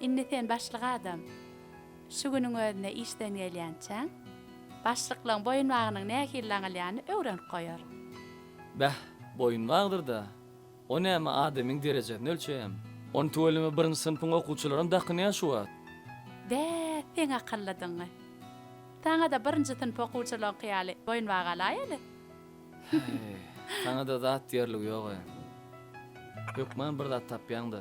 Indi sen başlyk adam. Şu günüň özünde işden gelýänçäň, başlyklygyň boýunbagynyň nähili daňylýanyny öwrenip goýaryn. Bäh, boýunbagdyr-da. O näme adamyň derejesini ölçeýämi? Ony tüweleme birinji synpyň okuwçylaram dakynýa şu wagt. Bä, seň akyllydygyňy. Saňada birinji synp okuwçylaryňky ýaly boýun bagalaýaly. Häý, saňada zat diýerligi ýog-a. Hökman bir zat tapýaň-da.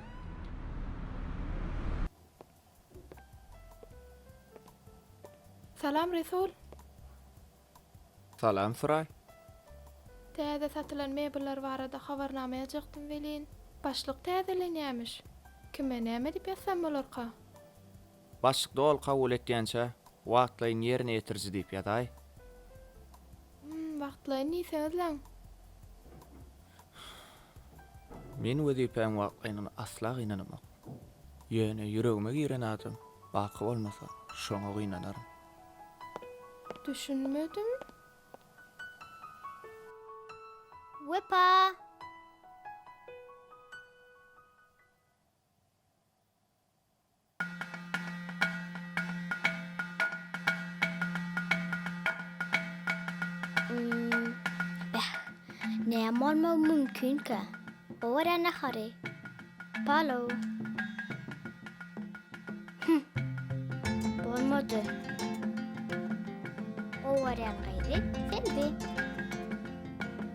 Salam Resul. Salam Suraý. Täze satylan mebeller barada habarnama ýazjakdym welin, başlyk täzelenýämiş. Kime näme diýip ýazsam bolarka? Başlyk doly kabul etýänçä wagtlaýyn ýerine ýetiriji diýip ýazaý. Hum, wagtlaýyn diýseňizläň. Men wezipäň wagtlaýnyna asla gynanamok. Ýöne ýüregime giren adam baky bolmasa, şoňa gynanaryn. Düşünmedim. Wepa! Molmo mümkinkä? Ora nahary. Palo. Bolmadı. Ora nahary. Selbi.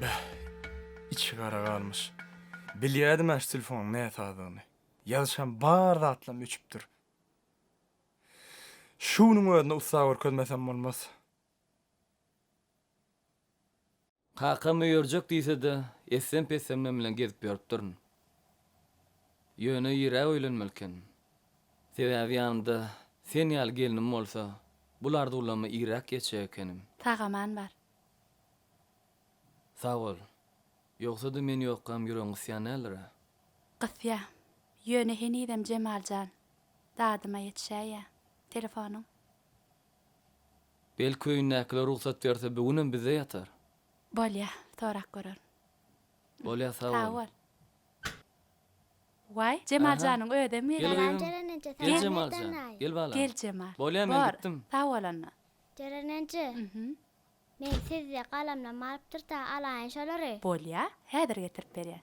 Beh, içi gara galmyş. Bilýädim-ä şu telefonyň näsazygyny. Ýazyşam bar zatlam öçüpdir. Şu günüň özünde ussa görkezmesem bolmaz. Kakam öýerjek diýse-de, essem-pessemden bilen gezip ýörüpdirin. Ýöne ýerä öýlenmeli eken. Sebäbi ýanymda sen ýaly gelnim bolsa, bul arzuwlama iräk ýetjek ekenim. Sag-aman bar. Sag bol. Ýogsa-da men ýokkam ýüregiň gysýan däldir-ä? Gysýa. Ýöne henizem Jemal jan. Dadyma ýetişäýýä. Telefonyň? Belki öýündäkiler rugsat berse bu günem bizde ýatar. Bolýa. Sorap görerin. Bolýa sag bol. Sag bol. Waý, Jemal janyň özem gelýär. Gel gyzym. Gel Jemal jan. Gel balam. Gel Jemal. Bolýa men gitdim. Sag bol onda. Jeren-enje, men sizde galamlam alypdyr-da, alaýyn şolary. Bolýa, häzir getirip berýän.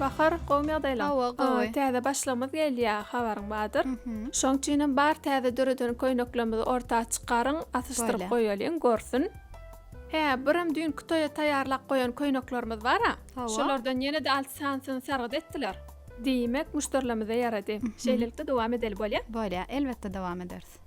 Bahar gowmy ýagdaýlaň? Hawa gowy. Täze başlygymyz gelýä habaryň bardyr. Şoň üçinem bar täze döreden köýneklerimizi orta çykaryň asyşdyryp goýalyň görsün. Hä birem düýnki toýa taýýarlap goýan köýneklerimiz bara. Hawa. Şolardan ýenede alty sanysyny sargyt etdiler. Diýmek muşderilerimize ýarady. Şeýlelikde dowam edeli bolýa? Bolýa elbetde dowam ederis.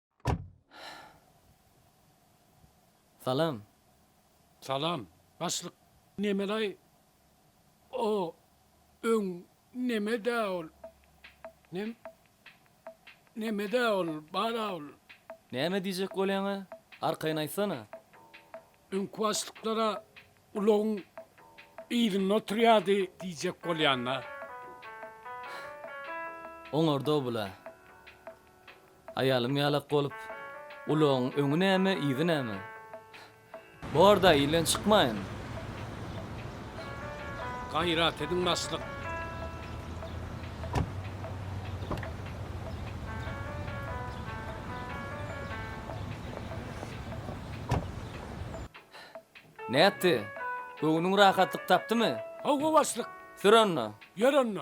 Salam. Salam. Başlyk nemelaý o öň nemedä ol nem nemedä ol bara ol. Näme diýjek bolýaňa arkaýyn aýtsana. Öňki başlyklara ulagyň yzynda oturýardy diýjek bolýan-da. Oňarda-ow bula. Aýalym ýalak bolup, ulagyň öňi näme, yzy näme? Bor-da, ilden çykmaýyn. Gaýrat ediň, başlyk. Nätdi? Göwnüň rahatlyk tapdymy? Hawa, başlyk. Sür onda. Ýör onda.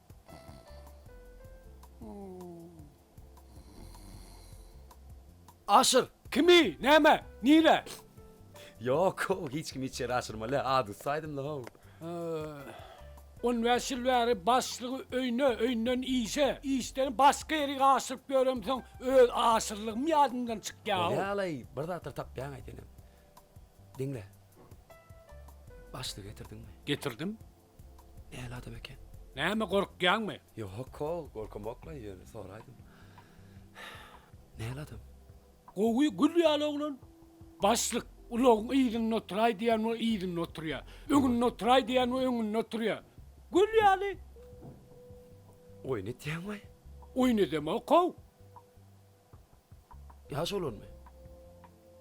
Aşyr! Kimi? Näme? Nire? Ýok-ow, hiç kimi içeri aşyrma-le, adusty aýdym-la-how. On bäş ýyl bäri başlygy öýüne, öýünden işe, işden başga ýere aşyryp ýöremsoň, öz aşyrylygym ýadymdan çykýa-ow. Bolýa-laý, bir zatlar tapýaňa senem. Diňle. Başlygy getirdiňmi? Getirdim. Näl adam eken? Näme gorkýaňmy? Ýok-o, gorkamok-la, ýöne soraýdym. Näl adam? Gowy, gül ýaly oglan. Başlyk, ulagyň yzynda oturaý diýen bolup yzynda oturýar. Öňünde oturaý diýen bolup öňünde oturýar. Gül ýaly. Oýun etýäňmi? Oýun edemok-ow. Ýaş olanmy?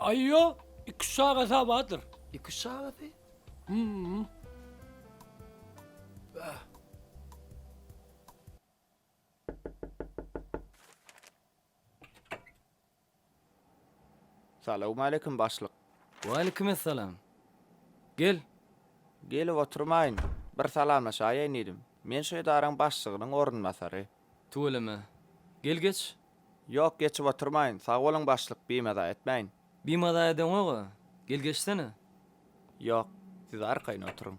Aý ýo, iki-üç çagasy ha bardyr. Iki-üç çagasy? Hum. Bäh. Salawmaleýkim, başlyk. Waleýkimessalam. Gel. Gelip oturmaýyn. Bir salamlaşaýaýyn diýdim. Men şu edaraň başlygynyň orunbasary. Tüweleme. Gel geç. Ýok geçip oturmaýyn. Sag boluň başlyk, bimaza etmäýin. Bimaza edeňog-a. Gel geçsene. Ýok. Siz arkaýyn oturyň.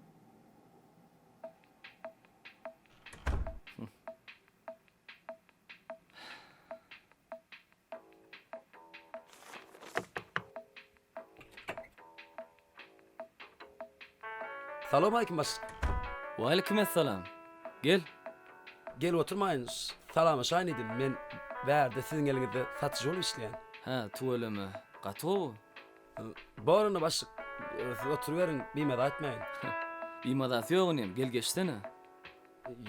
Salowmalikim baş. Walikim essalam. Gel. Gelip oturmaýyn, salamlaşaýyn diýdim. Men bärde siziň geliňizde satyjy bolup işleýän. Hä, tüweleme. Gaty gowy. Bor onda baş. Siz oturyberiň, bimaza etmäýin. Bimazasy ýok inim, gel geçsene.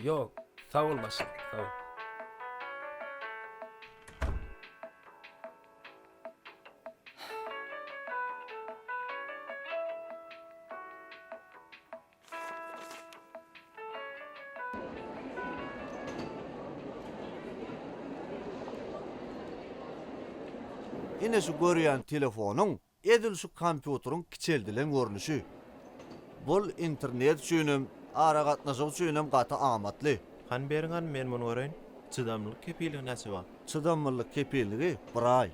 Ýok, sag bol baş, sag bol. Ine şu görýän telefonyň edil şu kompýuteriň kiçeldilen görnüşi. Bul internet üçin hem, aragatnaşyk üçin hem gaty amatly. Hany beriň hany men muny göreýin. Çydamlylyk kepiligi näçe wagt? Çydamlylyk kepilligi bir aý.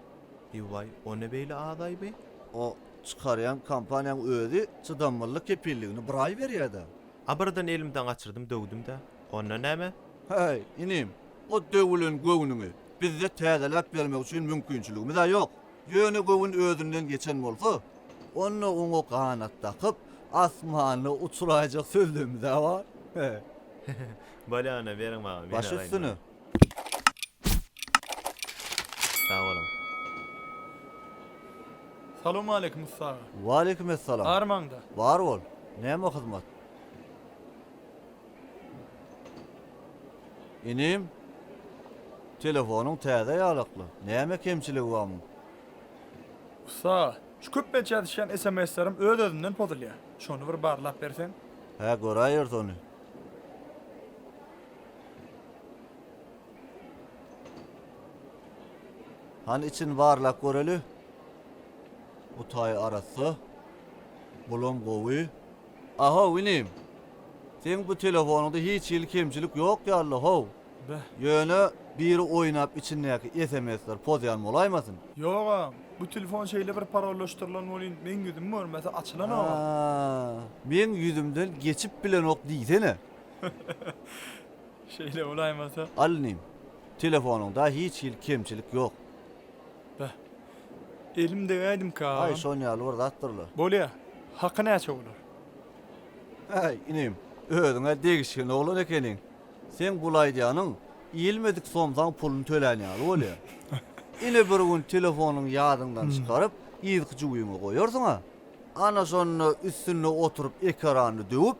Ýuwaý, o ne beýle azaý bi? O çykarýan kompaniýaň özi çydamlylyk kepilligini bir aý berýä-dä. A birden elimden gaçyrdym döwdüm-dä. Onda näme? Häý, inim, o döwülen göwnüňi bizde täzeläp bermek üçin mümkinçiligimiz-ä ýok. Ýöne göwün özünden geçen bolsa, onda oňa ganat dakyp, asmanda uçuraýjak sözlemimiz-ä bar. Bolýa, onda beriň maňa, men alaýyn ony. Baş üstüne, Sag boluň. Salowmaleýkim ussy aga. Waleýkim essalam. Bar maňda. Bar bol. Näme hyzmat? Inim, telefonyň täze ýalakly. Näme kemçiligi bar muň? Ussy aga, şu köp beýt ýazyşýan sms-lerim öz-özünden pozulýar. Şony bir barlap berseň. Hä, göräýeris ony. Hany için barlap göreli. Bu taý arassa. Bulam gowy. Ahow inim. Seň bu telefonunda hiç hili kemçilik yok yalla how. Beh. Yöne biri oynap içindeki SMSler pozyan bolaýmasyn. Yok a, bu telefon şeyle bir parollaştyrlan bolyn meň yüzüm görmese açylanok a. Aa, meň yüzümden geçip bilenok diysene. Şeýle bolaýmasa. Al inim, telefonyňda hiç hili kemçilik ýok. Beh, elim degäýdimkä agam. Aý, şon ýaly bir zatdyrlar. Bolýa. Haky näçe bolar? Äý, inim, özüň-ä degişgen oglan ekeniň. Seň bul aýdýanyň iýilmedik somsaň puluny tölän ýaly bolýa. Ine bir gün telefonyňy ýadyňdan çykaryp, yzky jübiňe goýarsyň-a. Ana şonda üstünde oturyp ekerany döwüp,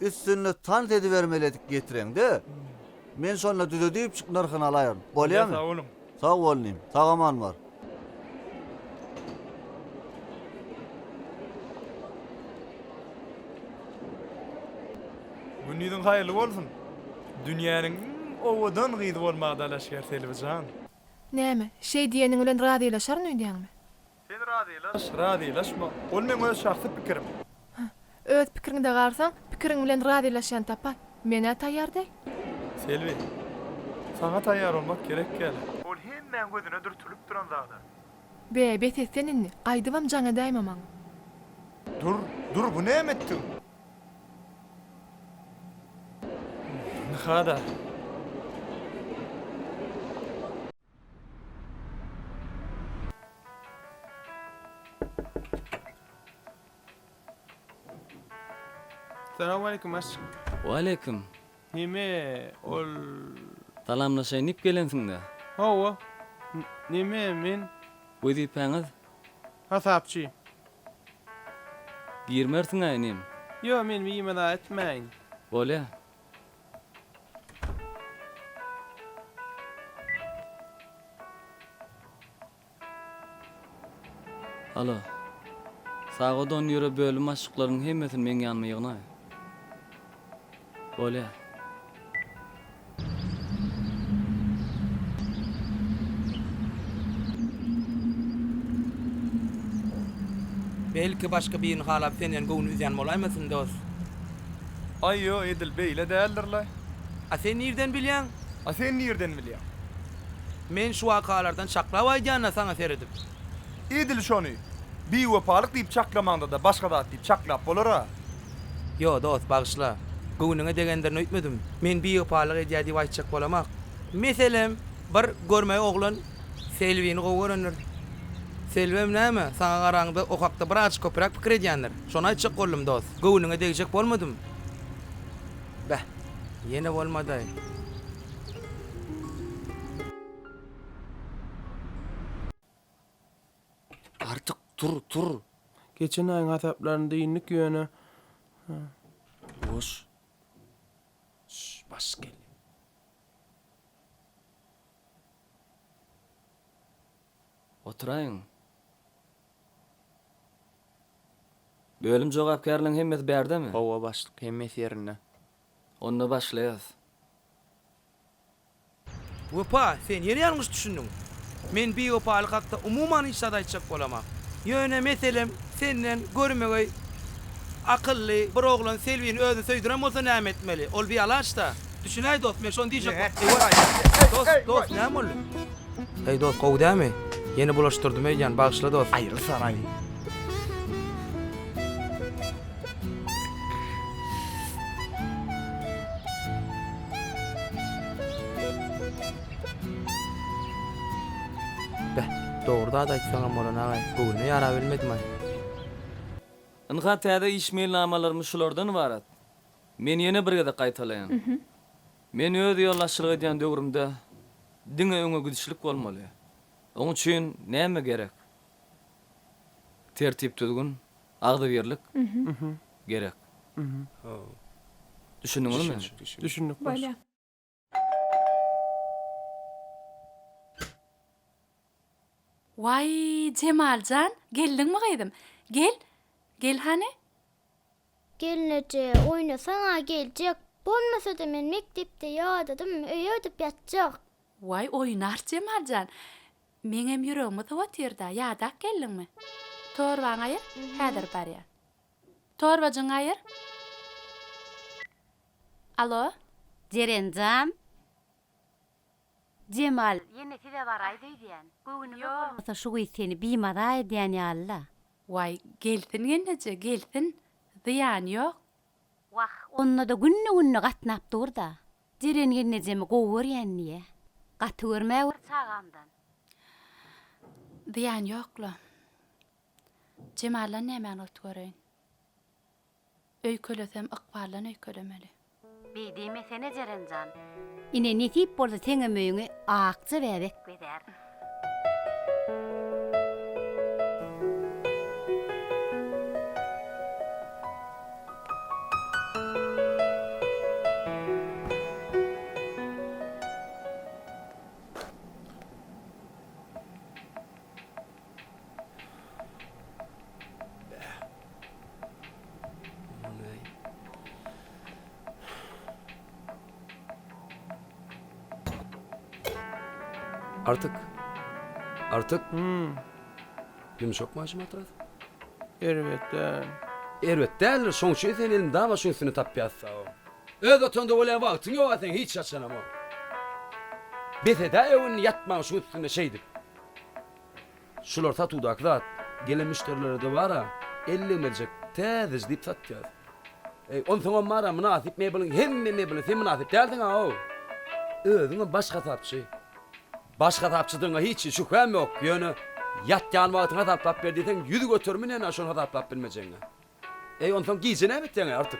Üstünde tans edibermeledik getireňde men şonda düzedipjik nyrhyny alaýaryn. Bolýamy? Sag boluň. Sag bol inim. Sagaman bar. Gündiziň haýyrly bolsun. Dünýäniň iň owadan gyzy bolmaga dalaşgär Selbijan. Näme, şeý diýeniň bilen razylaşaryn öýdýäňmi? Sen razylaş, razylaşma, ol meň öz şahsy pikirim. Hä, öz pikiriňde galsaň, pikiriň bilen razylaşýan tapar. Men-ä taýýar däl. Selbi, saňa taýýar bolmak gerek däl. Ol hemmäň gözüne dürtülip duran zada. Be, bes et sen indi, gaýdybam jaň edäýme maňa. Dur, dur, bu näme etdigiň? Ynha-da. Salamaleýkum aşyk. Waleýkim. Neme ol. Salamlaşaýyn diýip gelensiňdä. Hawa. Neme men. Wezipäňiz? Hasapçy. Girmersiňä inim. Ýok men wime-da etmäýin. Bolýa. Halo. Sagadon ýöre bölüm başlyklaryň hemmesini meň ýanyma ýygnaý. Bolýar. Belki başga birini halap senden göwün üzýän bolaýmasyn dos. Aý ýo edil beýle däldirle. A sen nirden bilýäň? A sen nirden bilýäň? Men şu wakalardan çaklap aýdýan-a saňa seredip. Edil şony biwepalyk diýip çaklamaňda-da başga zat diýip çaklap bolar-a. Ýo dost bagyşla. Göwnüňe degendirin öýtmedim. Men biwepalyk edýä diýip aýtjak bolamak. Meselem, bir görmeý oglan Selbini gowy görendir. Selbem näme, saňa garaňda o hakda bir az köpräk pikir edýändir. Şony aýtjak boldum, dost. Göwnüňe degjek bolmadym. Beh, ýene bolmady-aý. Artyk, tur, tur. Geçen aýyň hasaplarynda indik ýöne. Boş. Şş, baş gelýär. Oturaýyň. Bölüm jogapkärleriň hemmesi bärdemi? Hawa, başlyk, hemmesi ýerinde. Onda başlaýarys. Wepa, sen ýene ýalňyş düşündiň. Men biwepalyk hakda umuman hiç zat aýtjak bolamok. Ýöne meselem, senden görmegeý akylly bir oglan Selbini özüne söýdüren bolsa näme etmeli? Ol bialaç-da. Düşünäý dost men şony diýjek boldum. Dost dost näme boldy. Heý dost gowy dämi. Ýene bulaşdyrdym öýdýän bagyşla dost. Aýry saraý. Beh dogry zat aýtsaňam bolan agay göwnüne ýarabilmedimaý. Ynha täze iş meýilnamalarymy şulardan ybarat. Men ýene bir gezek gaýtalaýan. Men öz ýolbaşçylyk edýän döwrümde diňe öňe gidişlik bolmaly. Oň üçin näme gerek? Tertip-düzgün, agzybirlik gerek. Düşündiňizmi? Düşündik, başlyk. Waý, Jemal jan, geldiňmi gyzym? Gel, gel hany. Gelneje, oýnasaň-a geljek. Bolmasa-da men mekdepde ýadadym, öýe gidip ýatjak. Waý, oýnars Jemal jan. Meňem ýüregimi sowatyr-da, ýadap geldiňmi? Torbaňy aýyr, häzir barýan. Torbajyňy aýyr. Alo Jeren jan. Jemal ýene size baraýda öýdýän. Göwnüme bolmasa şu gyz seni bimaza edýän ýalyla. Waý gelsin gelneje gelsin zyýany ýok. Wah onda-da günde günde gatnap durda. Jeren gelnejemi gowy görýän diýýä. Gaty görmä bir çagamdan. Zyýany ýokla. Jemaldan nämäni ot göreýin. Öýkelesem ykbaldan öýkelemeli. Beý diýmesene Jeren jan. Ine nesip bolsa seňem öýüňi Akja bäbek bezär. Artyk. Artyk. Hmm. Ýumşak maşyn matras. Erbet däl. Erbet däldir, şoň üçin sen elini daň başyň üstüne tapýas sag ol. Öz otagynda bolýa wagtyň ýok-a seň hiç haçanam o. Bes edäýew indi ýatmaň şuň üstünde şeýdip. Şular satuwdaky zat. Gelen müşderilere dobara elli merjek täzeji diýip satýas. Eý, onsoňam bar-a mynasyp mebeliň hemme mebeline sen mynasyp dälsiň-aw. Özüňem baş hasapçy. Baş hasapçydygyňa hiç şübhäm ýok, ýöne ýatýan wagtyňy hasaplap ber diýseň ýüz göterim inen-ä şony hasaplap bilmejegiňe. Eý, onsoň gije näme etýäň-eý, Artyk?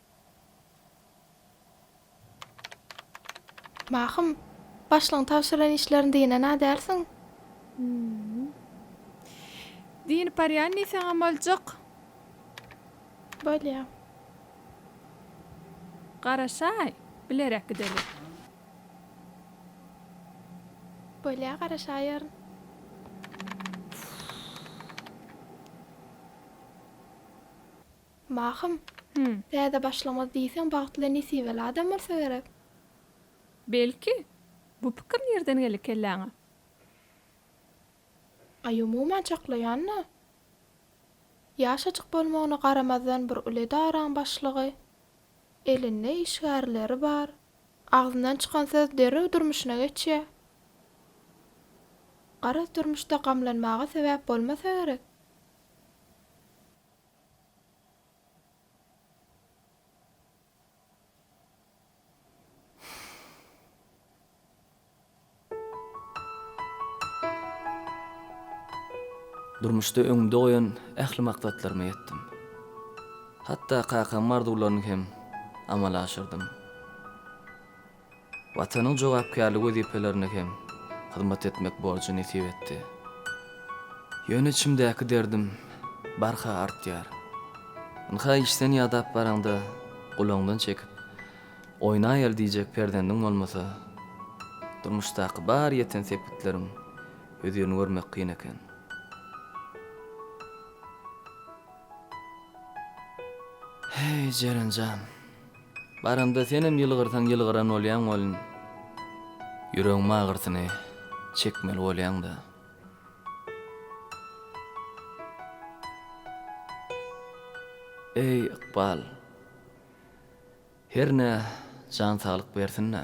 Mahym, başlygyň tabşyran işlerini dynana därsiň? Hü-ü. Dynyp barýan diýseňem boljak. Bolýa. Garaşaý, bilerek gideli. Bolýa, garaşaýaryn. Mahym, Hü. Täze başlamaz diýseň bagtly nesibeli adam bolsa gerek. Belki, bu pikir nirden geldi kelläňe? Aý umuman çaklaýan-da. Ýaşajyk bolmagyna garamazdan bir uly edaraň başlygy, elinde işgärleri bar. Agzyndan çykan söz derrew durmuşyna geçýä. Garaz durmuşda gamlanmaga sebäp bolmasa gerek. Durmuşda öňümde goýan ähli maksatlaryma ýetdim. Hatda kakamyň arzuwlaryny hem amala aşyrdym. Watanyň jogapkärli wezipelerine hem hyzmat etmek borjy nesip etdi. Ýöne içimdäki derdim barha artýar. Ynha işden ýadap baraňda gulagyňdan çekip, oýnaýaly diýjek perzendiň bolmasa, durmuşdaky bar ýeten sepgitleriň hözirini görmek kyn eken. Heý, Jeren jan! Baranda senem ýylgyrsaň ýylgyran bolýaň welin ýüregiň magyrsyny çekmeli bolýaňda. Eý ykbal. Hernä jan saglyk bersin-dä.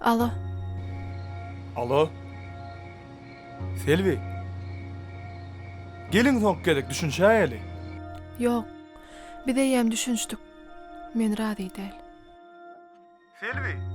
Alo. Alo. Selbi. Geliň soňky gezek düşünşäýeli. Ýok. Biz eýýäm düşünşdik. Men razy däl. Selbi.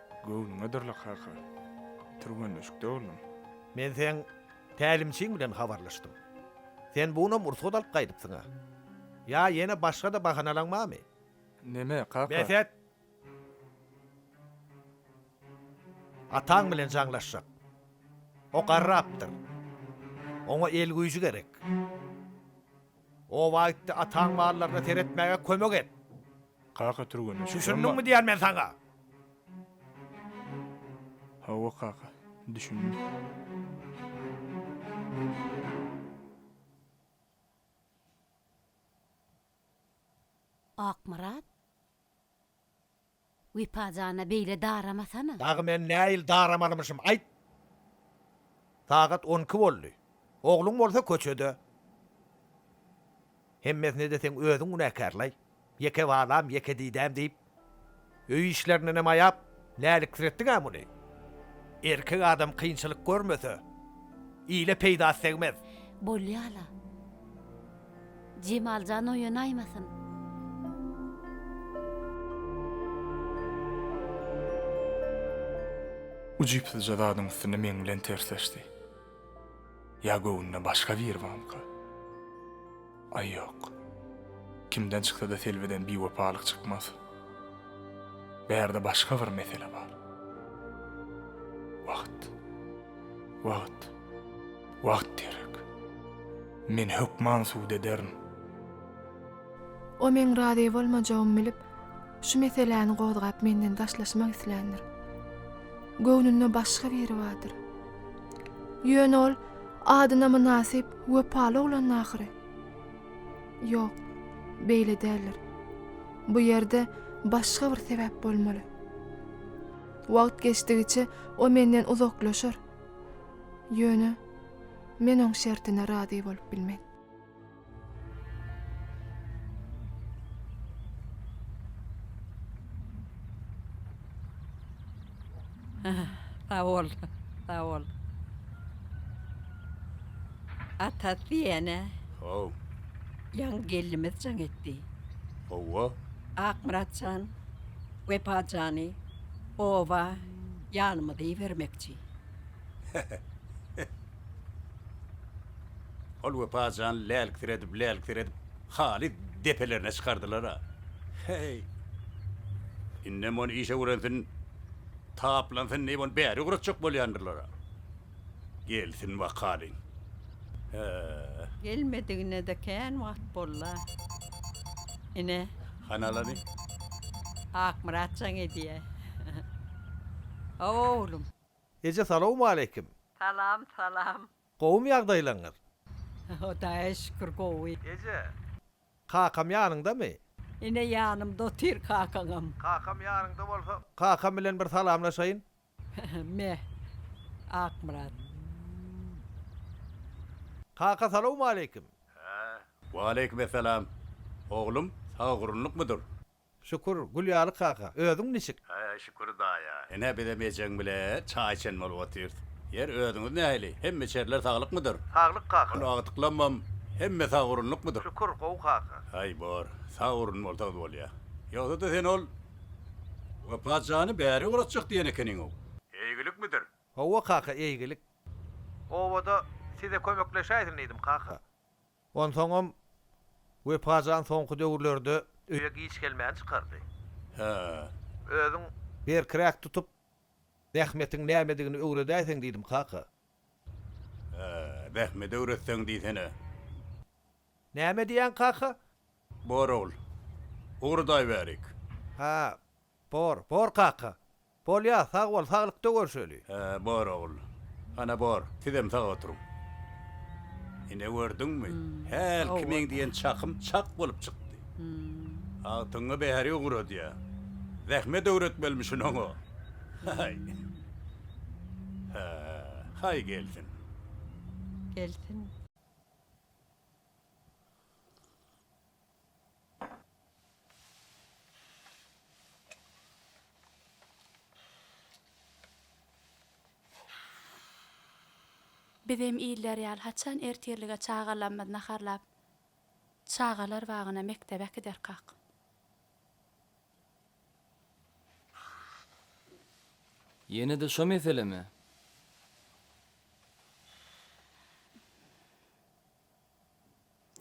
Göwnüňe durla kaka. Türgenleşikde boldum. Men seň tälimçiň bilen habarlaşdym. Sen bugunam ursat alyp gaýdypsyň-a. Ýa ýene başga-da bahanalaň barmy? Neme, kaka? Bes et! Ataň bilen jaňlaşjak. O garrapdyr. Oňa el güýji gerek. Oba gitdi, ataň mallaryna seretmäge kömek et. Kaka türgene çyk. Düşündiňmi diýýän men saňa? Hawa, kaka, düşündim. Akmyrat? Wepa jana beýle daramasana. Dagy men näil daramalymyşym aýt. Sagat on iki boldy. Ogluň bolsa köçede. Hemmesine-de seň özüň günäkärlaý. Ýeke balam, ýeke didäm diýip, öý işlerindenem aýap, läliksiretdiň-ä muny. Erkek adam kynçylyk görmese, ile peýdasy degmez. Bolýa-la. Jemaljan oýanaýmasyn. Ujypsyzja zadyň üstünde meň bilen tersleşdi. Ýa göwnüne başga biri bamyka? Aý ýok. Kimden çyksa-da Selbiden biwepalyk çykmaz. Bärde başga bir mesele bar. Wagt. Wagt. Wagt gerek. Men hökman sud ederin. O meň razy bolmajagymy bilip, şu meseläni gozgap menden daşlaşmak isländir. Göwnünde başga biri bardyr. Ýöne ol adyna mynasyp, wepaly oglandy ahyry. Ýok, beýle däldir. Bu ýerde başga bir sebäp bolmaly. Wagt geçdigiçe o menden uzaklaşar. Ýöne men oň şertine razy bolup bilmen. Sag bol, sag bol. Atat diýene. Haw. Ýaňy gelnimiz jaň etdi. Hawa. Akmyrat jan, Wepa jany, oba. Ýanymyza ibermekçi. Ol Wepa jan lälksiredip-lälksiredip haly depelerine çykardylar-a. Heý! Indem ony işe öwrensin, taplansyn diýip ony bäri ugratjak bolýandyrlar-a. Gelsin bakalyň. Hä. Gelmedigine-de kän wagt boldy-a. Ine. Hanalany? Akmyrat jaň edýä. Hawa oglum. Eje salowmaleýkim. Salam, salam. Gowymy ýagdaýlaryňyz? Hudaýa şükür gowy. Eje. Kakam ýanyňdamy? Ine ýanymda otyr kakaňam. Kakam ýanyňda bolsa kakam bilen bir salamlaşaýyn. Meh. Akmyrat. Kaka salowmaleýkim. Waleýkimessalam. Oglum, sagagurunlykmydyr? Şükür, gül ýaly kaka. Özüň niçik? Şükür daýa. Ine, bizem ejeň bile çaý içen bolup otyrys. Ýer, özüňiz nähili? Hemme-içerler saglykmydyr? Saglyk kaka. Ony agtyklammam, hemme sagagurunlykmydyr? Şükür, gowy kaka. Aý, bor. Sagagurun bolsaňyz bolýar. Ýogsa-da sen ol. Wepa jany bäri uratjak diýen ekeniňow. Eýgilikmidir? Howwa kaka eýgilik. Obada size kömekleşäýsin diýdim kaka. Onsoňam Wepa jan soňky döwürlerde. Öýe giç gelmäni çykardy. Hä. Özüň. Berkiräk tutup zähmetiň nämedigini öwredäýseň diýdim kaka. Hä. Zähmedi öwretseň diýsene. Näme diýýäň kaka? Bor ogul. Ugurdaýberik. Hä, bor, bor kaka. Bolýa, sag bol, saglykda görşeli. Hä, bor ogul. Ana, bor, sizem sag oturyň. Ine, gördüňmi, hälki meň diýen çakym çak bolup çykdy. Agtygyňa bäri ugradýa. Zähmet öwretmelimisin oňa. Haý. Hä, haý gelsin. Gelsin. Bizem iller ýaly haçan ertirlige çagalamyz naharlap çagalar bagyna mekdebe äkiderkak. Ýene-de şo meselemi?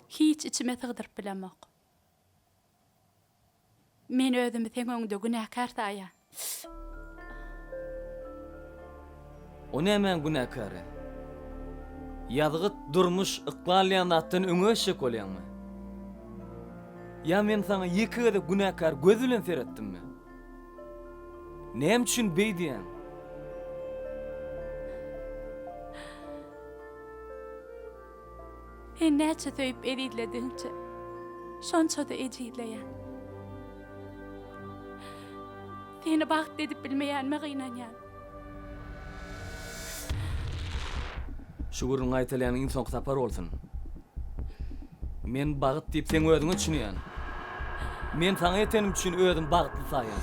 Hiç içime sygdyryp bilemok. Men özümi seň öňüňde günäkär saýýan. O nämäň günäkäri? Ýazgyt durmuş yklalýan zatdan öňe eşek bolýaňmy? Ýa men saňa ýeke gezek günäkär göz bilen seretdimmi? Näme üçin beý diýýäň? Sen näçe söýüp ezizledigiňçe, şonça-da ejizleýän. Seni bagtly edip bilmeýänime gynanýan. Şu gürrüň gaýtalýan iň soňky sapar bolsun. Men bagt diýip seň özüňe düşünýän. Men saňa ýetenim üçin özüm bagtly saýýan.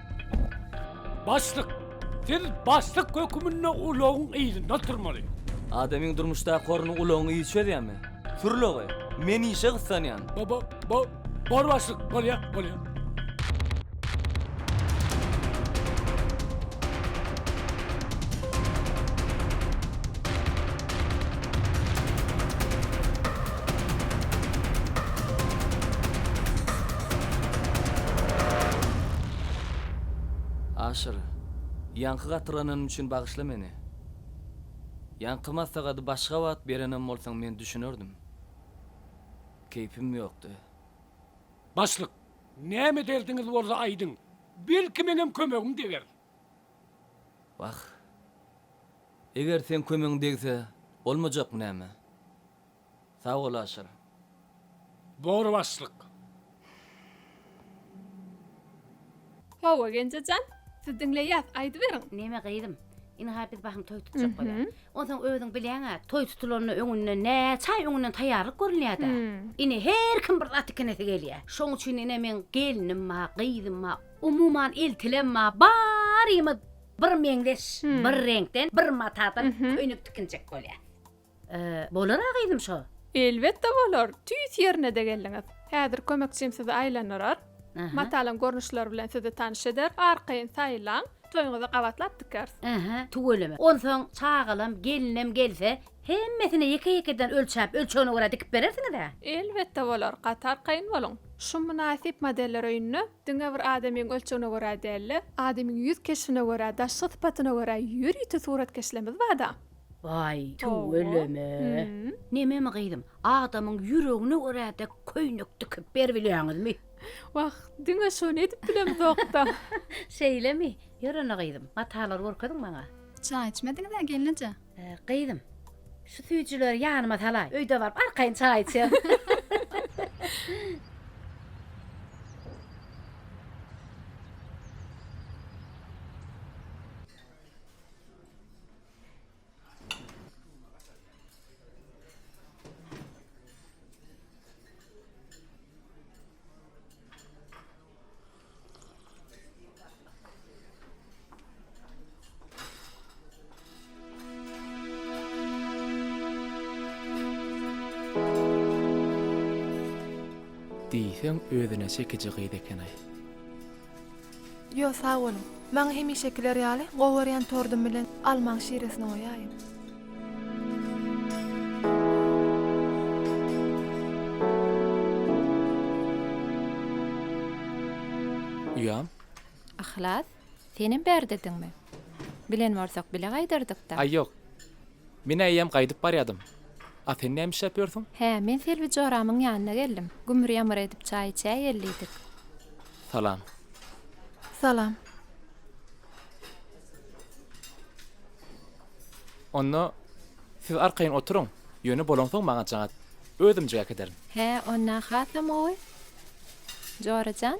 Başlyk, siz başlyk höküminde ulagyň yzynda oturmaly. Adamyň durmuşdaky orny ulagyň yzy çözýärmi? Sür ulagy, men işe gyssanýan. Bo-bo-bo, bor başlyk, bolýar, bolýar. Aşyr, ýaňky gatyrgananym üçin bagyşla meni. Ýaňky maslahady başga wagt berenem bolsaň men düşünerdim. Keýpim ýokdy. Başlyk, näme derdiňiz bolsa aýdyň. Belki meňem kömegim deger. Wah. Eger seň kömegiň degse, bolmajakmy näme? Sag bol Aşyr. Dogry başlyk. Hawa Genjejan, siz diňleýäs, aýdyberiň. Neme gyzym, ynha biz bahym toý tutjak bolýar. Onsoň özüň bilýäň-ä, toý tutulanyna öňünden näçe aý öňünden taýýarlyk görülýär-dä. Ine, her kim bir zat ikinesi gelýär. Şoň üçin ine meň gelnim-ä, gyzym-a, umuman eltilem-ä barymyz bir meňzeş, bir reňkden, bir matadan köýnek tikinjek bolýas. Bolar-a gyzym şo. Elbetde bolar, tüýs ýerine-de geldiňiz. Häzir kömekçim sizi aýlandyrar. Matalyň görnüşleri bilen sizi tanyş eder, arkaýyn saýlaň, toýuňyza gabatlap dikeris. Ähä, tüweleme. Onsoň çagalam, gelinem gelse, hemmesine ýeke-ýekeden ölçäp, ölçegine görä dikip berersiňiz-ä? Elbetde bolar, gaty arkaýyn boluň. Şu mynasyp modeller öýünde diňe bir adamyň ölçegine görä däl-de, adamyň ýüz keşbine görä, daşky sypatyna görä ýörite suratkeşlerimiz bar-da. Waý, tüw öleme. Nememi gyzym, adamyň ýüregine görä dek köýnek dikip beribilýäňizmi? Wah, diňe şony edip bilemizok-da. Şeýlemi? Ýörene gyzym, matalary görkeziň maňa. Çaý içmediňiz-ä, gelneje? Gyzym, şu süýjüleri ýanyma salaý, öýde baryp arkaýyn çaý içerin. diýseň özüne çekiji gyz eken-aý. Ýo sag boluň. Maňa hemişekiler ýaly gowarýan tordum bilen almaň şiresini goýaýyň. Uýam. Yhlas, senem bärdidiňmi? Bilen bolsak bile gaýdardykda. Aý ýok. Men eýýäm gaýdyp barýadym. A sen näme işläp ýörsüň? Hä, men Selbi joramyň ýanyna geldim. Gümür-ýamyr edip çaý içäýelidik. Salam. Salam. Onda siz arkaýyn oturyň, ýöne bolansoň maňa jaň at. Özümjik äkiderin. Hä, onda hasam gowy, jora jan.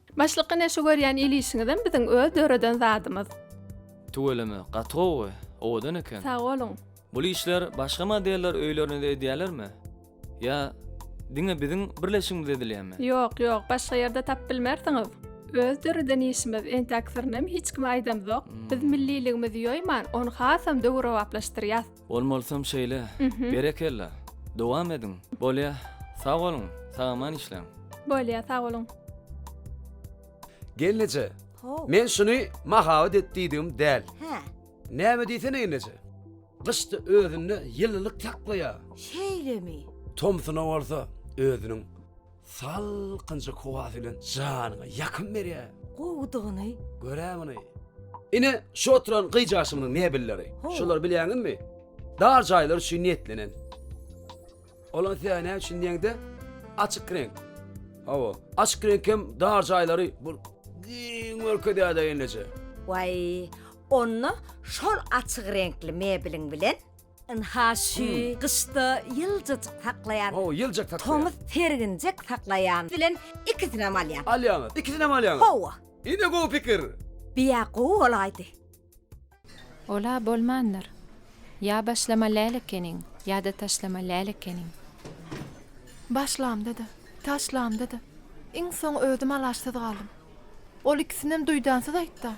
Başlyk ine şu görýän il işiňizem biziň öz döreden zadymyz. Tüweleme, gatowy, owadan eken. Sag boluň. Bul işler başga modeller öýlerinizde edýälermi? Ýa diňe biziň birleşigimizde edilýämi? Ýok, ýok, başga ýerde tap bilmersiňiz. Öz döreden işimiz, entäk syryny hem hiç kime aýdamzok. Biz milliligimizi ýoýman, ony hasam döwrebaplaşdyrýas. Bolmalysam şeýle. Berekella. Dowam ediň. Bolýa. Sag boluň. Sagaman işläň. Bolýa, sag boluň. Gelneje, men şuny mahabat et diýdigim däl. Hä. Näme diýsene gelneje. Gyşda özünde ýylylyk saklaýar. Şeýlemi? Tomsuna bolsa özüniň Salkynjyk howasy bilen janyňa ýakym berýär. Gowudygyny. Gör-ä muny! Ine, şu oturan gyjaşymyň mebelleri. Ho. Şolar bilýäňizmi? Dar jaýlar üçin niýetlenen. Olar size näme üçin diýeňde, açyk reňk. Hawa, açyk reňk hem dar jaýlary bir giň görkezýär-de elleje. Waý, onda şol açyk reňkli mebeliň bilen Ynha şu gyşda ýyljajyk saklaýan. Hawa, ýyljak saklaýan. Tomus serginjek saklaýan bilen ikisinem alýan. Alýaňyz, ikisinem alýaňyz. Hawa. Ine gowy pikir. Biýa gowy bolaýdy. Ol-a bolmandyr. Ýa başlama läl ekeniň, ýa-da taşlama läl ekeniň. Başlamda-da, taşlamda-da iň soň özüm alaçsyz galdym. Ol ikisinem duýdansyz aýtdy.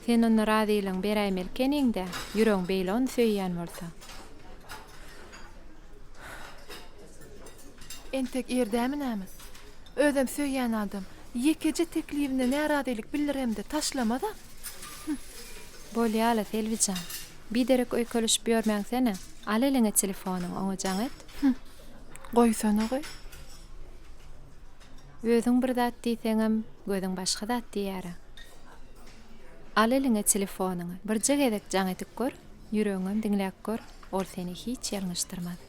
Sen onda razylygyňy beräýmeli ekeniň-dä, ýüregiň beýle ony söýýän bolsa. Entek ýerdämi näme? Özem söýýän adam ýekeje teklibine närazylyk bildiremde, taşlamaz-a? Hüm. Bolýa-la, Selbi jan. Biderek öýkelişip ýörmäňsene. Al eliňe telefonyňy, oňa jaň et. Hüm. Goýsana-goý. Özüň bir zat diýseňem, gözüň başga zat diýýär-ä. Al eliňe telefonyňy, birje gezek jaň edip gör, ýüregiňem diňläp gör, ol seni hiç ýalňyşdyrmaz.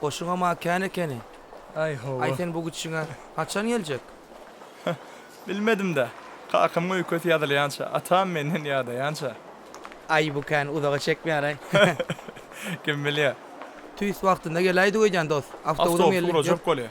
Goşuňam-a kän ekeni. Aý, hawa. Aý, sen bu gitişiňe haçan geljek? Hä, bilmedim-dä. Kakamyň öýkesi ýazylýança, atam menden ýadaýança. Aý, bu kän uzaga çekmeýär-aý. Kim bilýär. Tüýs wagtynda geläýdik öýdýän, dost. Awtobus urajak bolýar.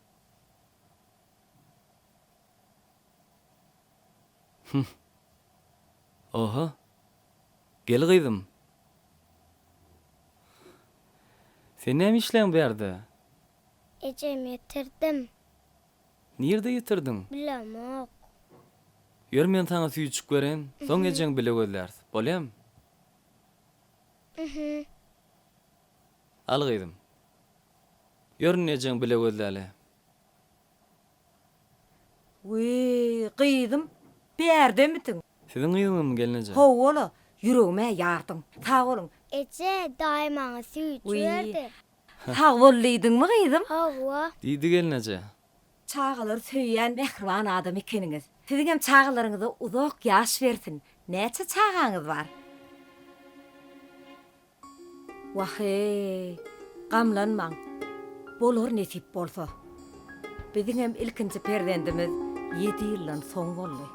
Hüh. Oho. Gel gyzym. Sen näme işleýäň bu ýerde? Ejem ýetirdim. Nirde ýetirdiň? Bilemok. Ýör men saňa süýjük bereýin, soň ejeň bile gözläris. Bolýamy? Uhuh. Al gyzym. Ýörün ejeň bile gözläli. Wiý, gyzym, bärdemisiň? Siziň gyzyňyzmy, gelneje? Hawa-la, ýüregim-ä ýardyň. Sag boluň. Eje, daýy maňa süýt Wiý, jüberdi. sag bol diýdiňmi, gyzym? Hawa. Diýdi gelneje. Çagalary söýýän mähriban adam ekeniňiz. Siziňem çagalaryňyza uzak ýaş bersin. Näçe çagaňyz bar? Wah-eý, gamlanmaň. Bolar nesip bolsa. Biziňem ilkinji perzendimiz ýedi ýyldan soň boldy.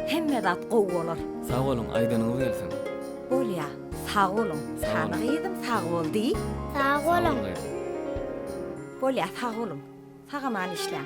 Hemme zat gowy bolar. Sag boluň aýdanyňyz gelsin. Bolýa sag boluň. Sany gyzym sag bol diý. Sag boluň gyzym. Bolýa sag boluň. Sagaman işläň.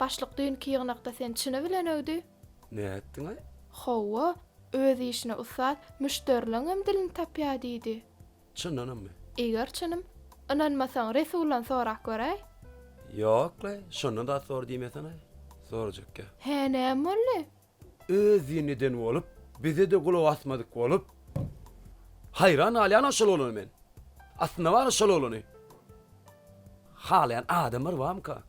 Başlyk düýnki ýygnakda sen çyny bilen öwdi. Nätdiňaý? Hawa, öz işine ussat, müşderiligiňem dilini tapýa diýdi. Çyndanamy? Eger çynym. Ynanmasaň, Resuldan sorap göräý. Ýok-laý, şonda-da sor diýmeseňaý. Sorajakka. Hä, näme boldy? Özi neden bolup bizede gulak asmadyk bolup haýran galýanam şol oglana men. Aslynda bary şol oglany halaýan adamlar barmyka?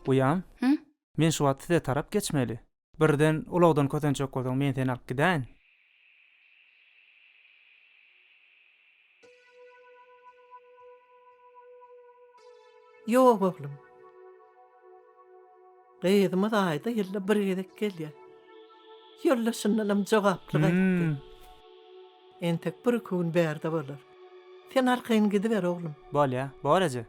Uýam? Men şu wagt size tarap geçmeli. Birden ulagdan kösenjek bolsaň, men seni alyp gidäýin. Ýok, oglum. Gyzymyz aýda ýylda bir gezek gelýär. Ýylda şundanam jogaply gaýtdy. Entek bir-iki gün bärde bolar. Sen arkaýyn gidiber, oglum. Bolýar, bor eje.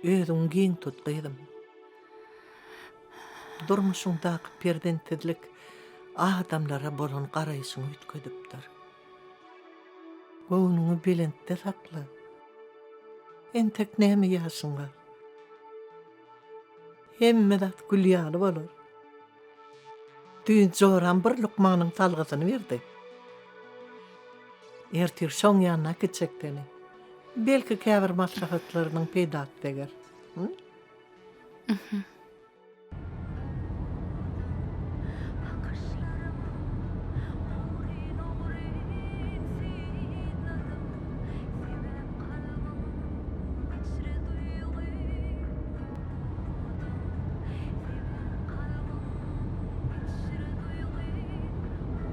Özüňi giň tut, gyzym. Durmuşyňdaky perzentsizlik adamlara bolan garaýşyňy üýtgedipdir. Göwnüňi belentde sakla. Entek näme ýaşyň bar. Hemme zat gül ýaly bolar. Düýn joram bir lukmanyň salgysyny berdi. Ertir şoň ýanyna gitjekdigini. Belki käbir maslahatlarynyň peýdasy deger.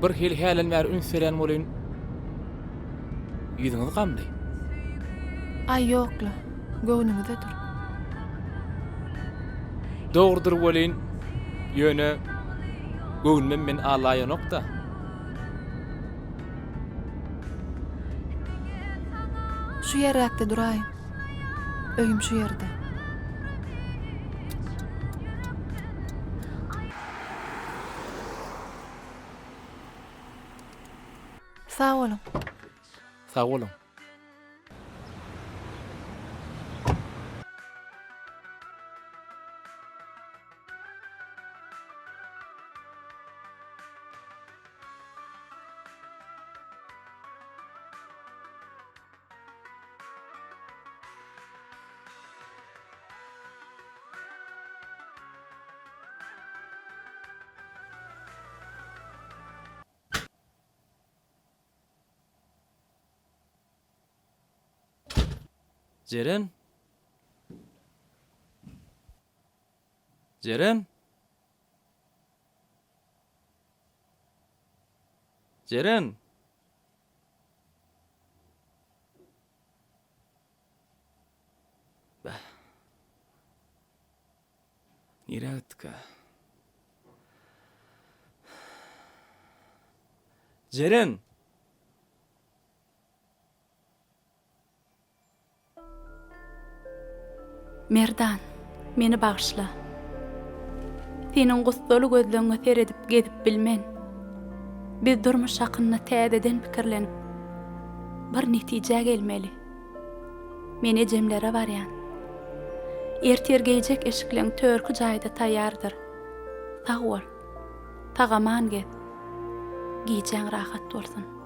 Bir hili hälen bäri üns berýän bolyn. Ýüzüňiz gamly. Aý ýokla, göwnüňize dur. Dogrudyr welin, ýöne göwnümem men alaýanok-da. Şu ýerräkde duraýyň. Öýüm şu ýerde. Sag boluň. Sag boluň. Jeren! Jeren! Jeren! Bäh. Nirä gitdikä? Jeren! Merdan, meni bagyşla. Seniň gussaly gözleňňe seredip gezip bilmen. Biz durmuş hakynda täzeden pikirlenip, bir netijä gelmeli. Men ejemlere barýan. Ertir geýjek eşikleň törki jaýda taýýardyr. Sag bol. Sag-aman gez. Gijäň rahat bolsun.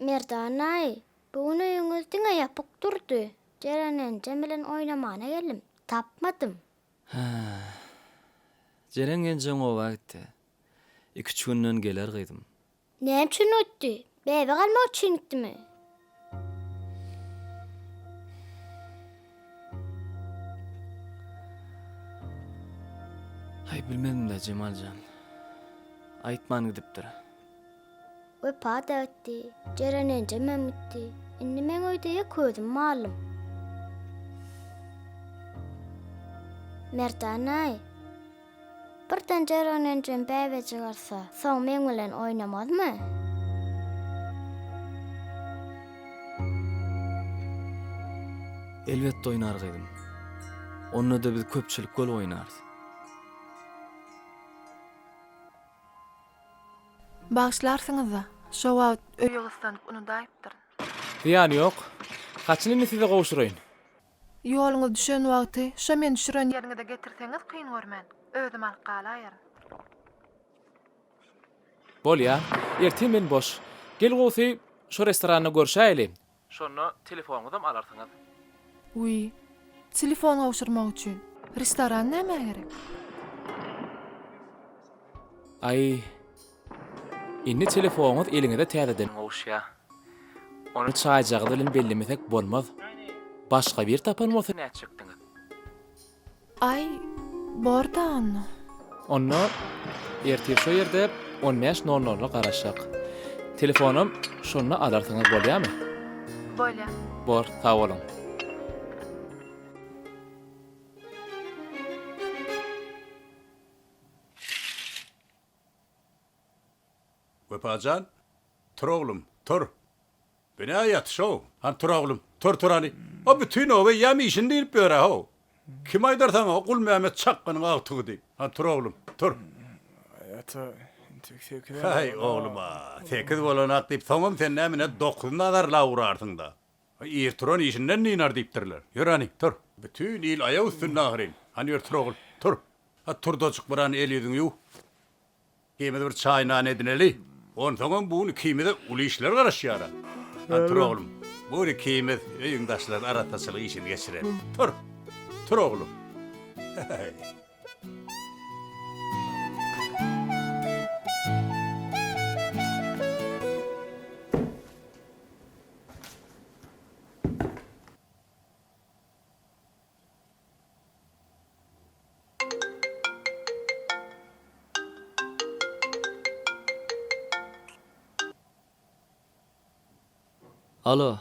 Merdan-aý, bu gün öýüňiz diňe ýapyk durdy. Jeren enjem bilen oýnamana geldim. Tapmadym. Hä. Jeren enjeň oba gitdi. Iki-üç günden geler gyzym. Näme üçin gitdi? Bebe galmak üçin gitdimi? Aý bilmedim-de Jemal jan. Aýtman gidipdir. Wepa-da gitdi, Jeren enjemem gitdi. Indi meň öýde ýek özüm mallym. Merdan-aý. Birden Jeren enjem bäbe jygyrsa, soň meň bilen oýnamazmy? Elbetde oýnar gyzym. Onda-da biz köpçülik bolup oýnarys. Bagyşlarsyňyz-a, şo wagt öýi gyssanyp unudaýypdyryn. Zyýany ýok. Haçan indi size gowşuraýyn? Ýoluňyz düşen wagty şo men düşüren ýeriňize getirseňiz kyn görmen. Özüm alyp galaýaryn. Bolýa. Erte men boş. Gel gowusy, şo restoranda görşäýeli. Şonda telefonyňyzam alarsyňyz. Wiý. Telefon gowşurmak üçin. Restoran nämä gerek? Aý. Indi telefoňyz eliňize täzeden gowuşýa. Ony çaýjagaz bilen bellemesek bolmaz. Başga bir tapan bolsa nätjekdiňiz? Aý, bor-da onda. Onda ertir şo ýerde on bäş nol nola garaşak. Telefonam şonda alarsyňyz bolýamy? Bolýa. Bor, sag boluň. Wepa jan, tur oglum, tur! Binä ýatyş-ow! Hany, tur oglum, tur, tur hany! O bütin oba eýýäm işini diýlip ýör-ä-how! Kim aýdar saňa, o Gulmämmet çakganyň agtygy diýip! Hany, tur oglum, tur! Aý, ata, entek sekiz hem bolany-ow! Haý, oglum-a, sekiz bolany-ak diýip, soňam sen näme ine, dokuzyny azarlap urarsyň-da! Aý, ir turan işinden dynar diýipdirler. Ýör hany, tur! Bütin il aýak üstünde ahyryn. Hany ýör, tur ogul, tur! A Turdajyk, biran el-ýüzüňi ýuw. Ikimiz bir çaý-nan edineli. Onsoňam bu gün ikimize uly işler garaşýar-a. Hany tur oglum, bu gün ikimiz öýüň daşlaryny arassaçylyk işini geçireli. Tur! Tur oglum! He-heý! Alo.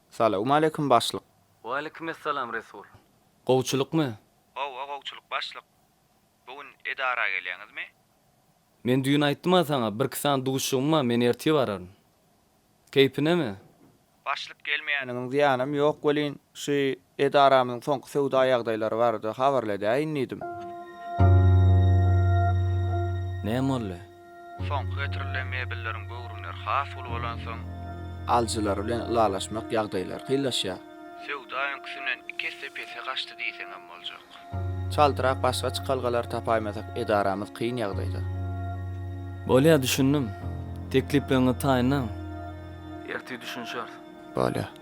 Salawmaleýkim, başlyk. Waleýkimessalam, Resul. Gowçulykmy? Hawa, gowçulyk, başlyk. Bu gün edara gelýäňizmi? Men düýn aýtdym-a saňa, birki sany duşuşygym bar, men ertir bararyn. Keýpinemi? Başlyk gelmeýäniňiň zyýanam ýok welin, şu edaramyzyň soňky söwda ýagdaýlary barada habarly edäýin diýdim. Näme boldy? Soňky getirilen mebelleriň göwrümleri has uly bolansoň. Alyjylar bilen ylalaşmak ýagdaýlary kynlaşýar. Söwda öňküsinden iki esse pese gaçdy diýseňem boljak. Çaltrak başga çykalgalar tapaýmasak edaramyz kyn ýagdaýda. Bolýar düşündim. Teklipleriňizi taýynlaň. Ertir düşünişeris. Bolýar.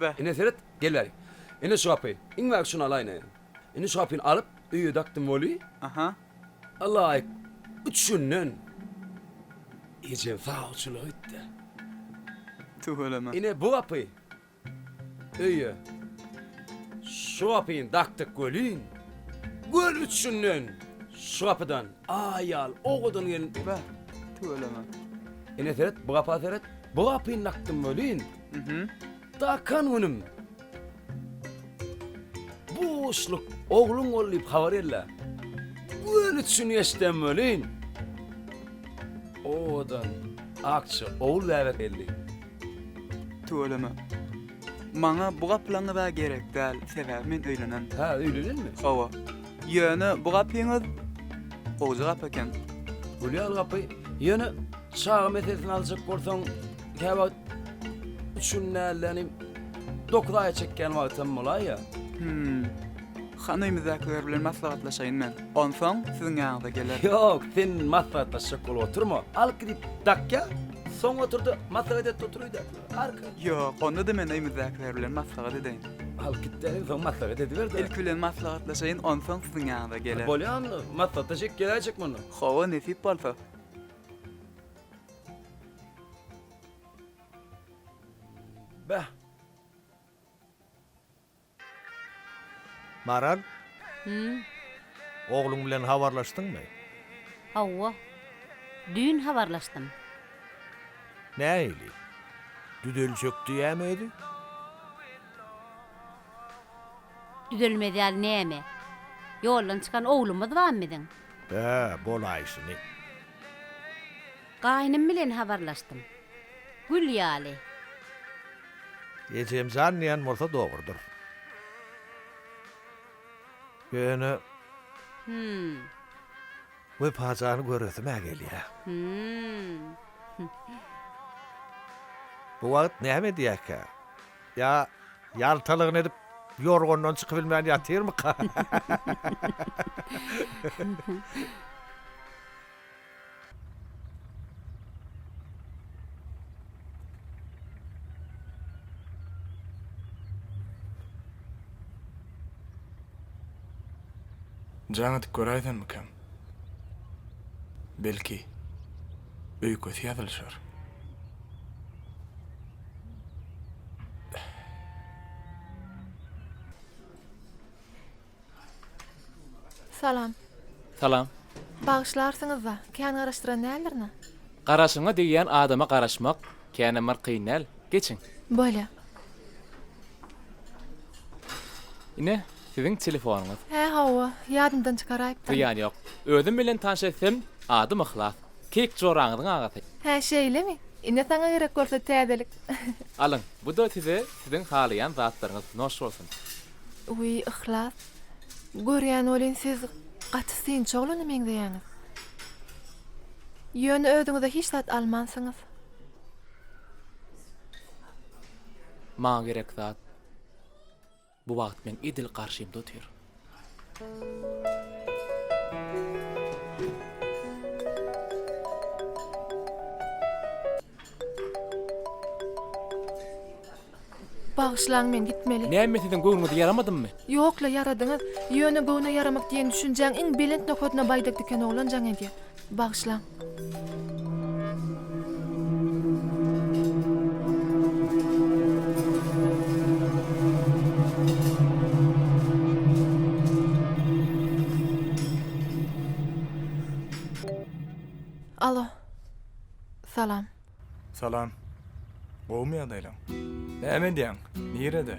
Be. Ine seret, gel-äý. Ine şu gapy. Iňmäge şuny alaýyn-aý. Indi şu gapyny alyp, öýe dakdym weli. Aha. Alaýyk. Üç günden ejeň sawçylyk etdi. Tüweleme. Ine bu gapy. Öýe. Şu gapyny dakdyk welin, gör üç günden şu gapydan aýal, owadan gelin. Be. Tüweleme. Ine seret, bu gapa seret. Bu gapyny dakdym welin. Dakan günüm. Buşluk ogluň bol diýip habar ella. Göl üçin geçdem welin. Owadan akça ogul bäbek elli. Tüweleme. Maňa bu gaplaňyz-a gerek däl, sebäbi men öýlenen. Hä, öýlenenmi? Hawa. Ýöne bu gapyňyz gowja gap eken. Gülýal gapy. Ýöne çaga meselesini aljak bolsaň, Käwagt üç gün nälenim, dokuz aýa çekýän wagtam bolaýýa. Hüm. Han öýmüzdekiler bilen maslahatlaşaýyn men. Onsoň siziň ýanyňyza gelerin. Ýok, sen maslahatlaşjak bolup oturma. Alyp gidip dakýa, soň otur-da, maslahat et-de otur öýde. Arka. Ýok, onda-da men öýmüzdekiler bilen maslahat edeýin. Alyp git-de, soň maslahat ediber-de. Ilki bilen maslahatlaşaýyn, onsoň siziň ýanyňyza gelerin. Bolýamy, maslahatlaşyk geläýjek mundan. Hawa, nesip bolsa. Beh! Maral? Hümm. Ogluň bilen habarlaşdyňmy? Hawa. Düýn habarlaşdym. Nähili? Düzeljek diýýämi özi? Düzelmez ýaly näme? Ýoldan çykan oglumyz bamy biziň? Hä, bolaýşyny. Gaýnym bilen habarlaşdym. Gül ýaly. Ejem jan diýen bolsa dogrudyr. Ýöne. Hüm. Wepa jany göresim-ä gelýä. Hüm. Bu wagt näme edýäýkä? Ýa, ýaltalygyny edip, ýorgandan çykybilmän ýatyrmyka? Jaň edip göräýsemmikäm? Belki, öýkesi ýazylyşar. Salam. Salam. Bagyşlarsyňyzda, kän garaşdyran däldirina? Garaşyňa degýän adama garaşmak känem bir kyn däl. Geçiň. Bolýa. Ine, siziň telefonyňyz. Hä, hawa, ýadymdan çykaraýypdyryn. Zyýany ýok. Özüm bilen tanyş etsem, adym Yhlas. Kek joraňyzyň agasy. Hä şeýlemi? Ine saňa gerek bolsa täzelik. Alyň, bu-da size siziň halaýan zatlaryňyz. Noş bolsun. Wiý, Yhlas. Görýän welin siz gaty synçy oglana meňzeýäňiz. Ýöne özüňize hiç zat almansyňyz. Maňa gerek zat. Bu wagt meň edil garşymda otyr. Bagyşlaň, men gitmeli. Näme siziň göwnüňize ýaramadymmy? Ýok-la, ýaradyňyz. Ýöne göwne ýaramak diýen düşünjäň iň belent nokadyna baýdak diken oglan jaň edýär. Bagyşlaň. Alo. Salam. Salam. Gowumy ýagdaýlaň? Näme edýäň? Nirede?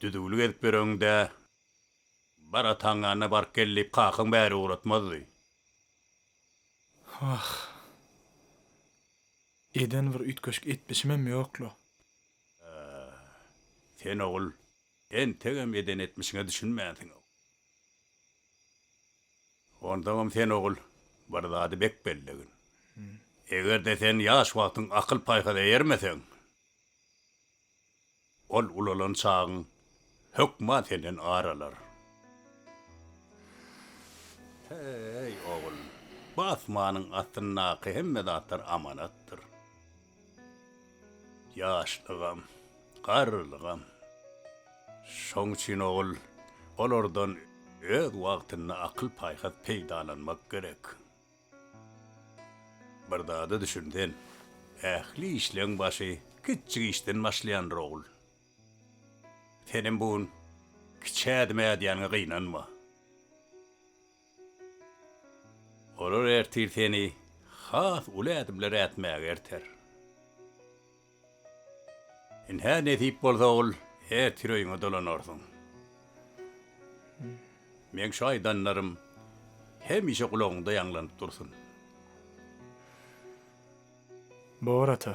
Düzüwlik edip ýöregiň-dä. Bar ataň ýanyna baryp gel diýip kakaň bäri ugratmazdy. Wah. Eden bir üýtgeşik etmişimem ýok-la. Sen ogul, entegem eden etmişiňe düşünmänsiň. Onsoňam sen ogul, bir zady bek bellegin. Eger-de sen ýaş wagtyň akyl-paýhasa eýermeseň. Ol ulalan çagyň hökman senden ar alar. Heý, ogul, bu asmanyň astyndaky hemme zatlar amanatdyr. Ýaşlygam, garrylygam. Şoň üçin, ogul, olardan öz wagtynda akyl-paýhas peýdalanmak gerek. Bir zada düşünsen, ähli işleň başy kiçjik işden başlaýandyr ogul. Senem bu gün kiçi ädim ädýäniňe gynanma. Olar ertir seni has uly ädimler ätmäge erter. Ynha, nesip bolsa ol ertir öýüňe dolanarsyň. Meň şu aýdanlarym hemişe gulagyňda ýaňlanyp dursun. Bor, ata.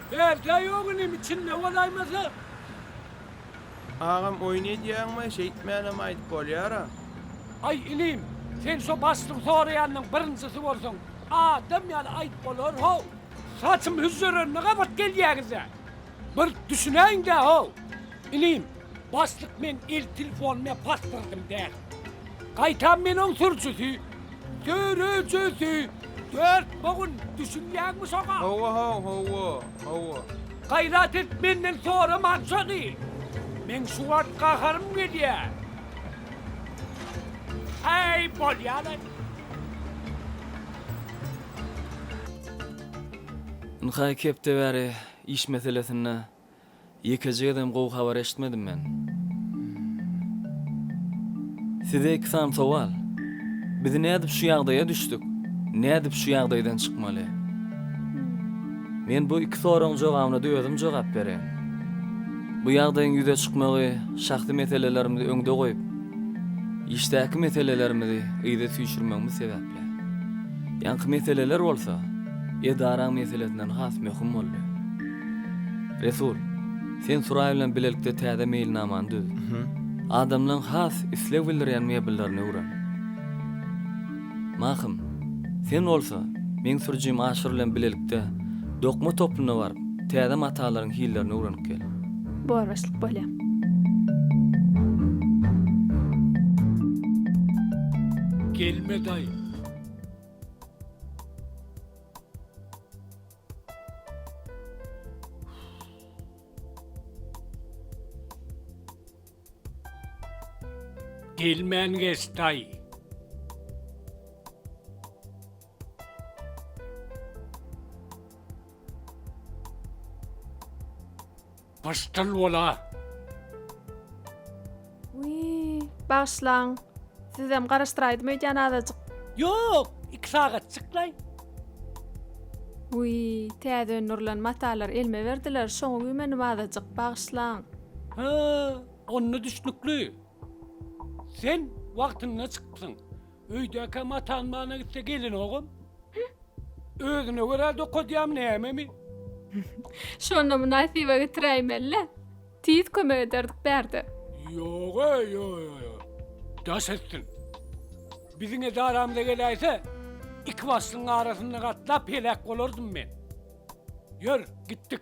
Bärde ýok inim içinde bolaýmasa. Agam oýun edýäňmi şeýtmänem aýdyp bolýara. Aý inim sen şo başlygy soraýanyň birinjisi bolsaň adam ýaly aýdyp bolar how. Saçym hüzzerenme gabat gelýäňizä bir düşünäýindä how inim. Başlyk men el telefonyny basdyrdym däl. Gaýtam men oň sürjüsi, sürüjisi, dört bogun, düşünýäňmi şoňa? Hawa haw hawa, hawa. Gaýrat et menden soraman şony. Meň şu wagt gaharym gelýär. Äý bolýa-laý. Ynha iki hepde bäri iş meselesinde. Ýekeje gezem gowy habar eşitmedim men. Size iki sany sowal. Biz nädip şu ýagdaýa düşdük? Nädip şu ýagdaýdan çykmaly? Men bu iki soragyň jogabyna-da özüm jogap bereýin. Bu ýagdaýyň ýüze çykmagy şahsy meselelerimizi öňde goýup, işdäki meselelerimizi yza süýşürmegimiz sebäp. Ýaňky meseleler bolsa edaraň meselesinden has möhüm boldy. Resul, sen Suraý bilen bilelikde täze meýilnamany düz. Adamlaryň has isleg bildirýän mebellerini öwren. Mahym, sen bolsa, meň sürüjim Aşyr bilen bilelikde dokma toplumyna baryp, täze matalaryň hillerini öwrenip gel. Boraşlyk bolýar. Gelme daýy. Gelmän geç daýy. Başdal bola. Wiý, bagyşlaň. Sizem garaşdyraýdym öýdýän azajyk. Ýok, iki sagatjyklaý. Wiý, täze öndürilen matalar elime berdiler, şoňa güýmendim azajyk, bagyşlaň. Hä, onda düşnükli. Sen wagtynda çykypsyň. Öýdäkäm ataň mana gitse gelinogam. Özüne görä dokadýam nämemi? Şonda mynasyba getiräýmeli-le. Tiz kömek ederdik bärde. Ýog-a, ýo-ýo-ýo. Daş etsin. Biziň edaramyza geläýse, iki başlygyň arasynda gatlap heläk bolardym men. Ýör, gitdik.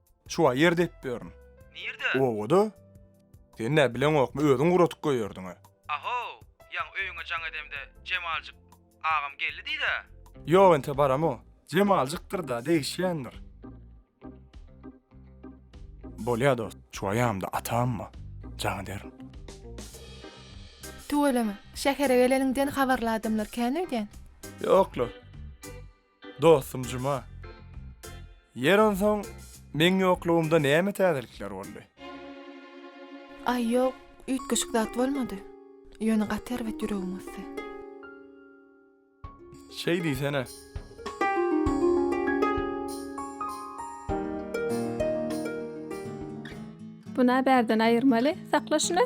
Çuwa ýer depip ýörün. Nirde? Obada. Sen nä bileňokmy özüň guratyp goýerdiňä. Aho, ýaňy öýüňe jaň edemde Jemaljyk agam geldi diýdä. Ýok entä baramo. Jemaljykdyr-da degişýändir. Bolýa dost. Çuwa ýamda atamma jaň ederin. Tüweleme, şähere geleniňden habarly adamlar kän öýdýän. Ýok-la. Dostum Juma. Ýer onsoň meň ýoklugymda näme täzelikler boldy? Aý ýok, üýtgeşik zat bolmady. Ýöne gaty erbet ýüregim gysdy. Şeý diýsene. Buna bärden aýyrmaly, sakla şuny.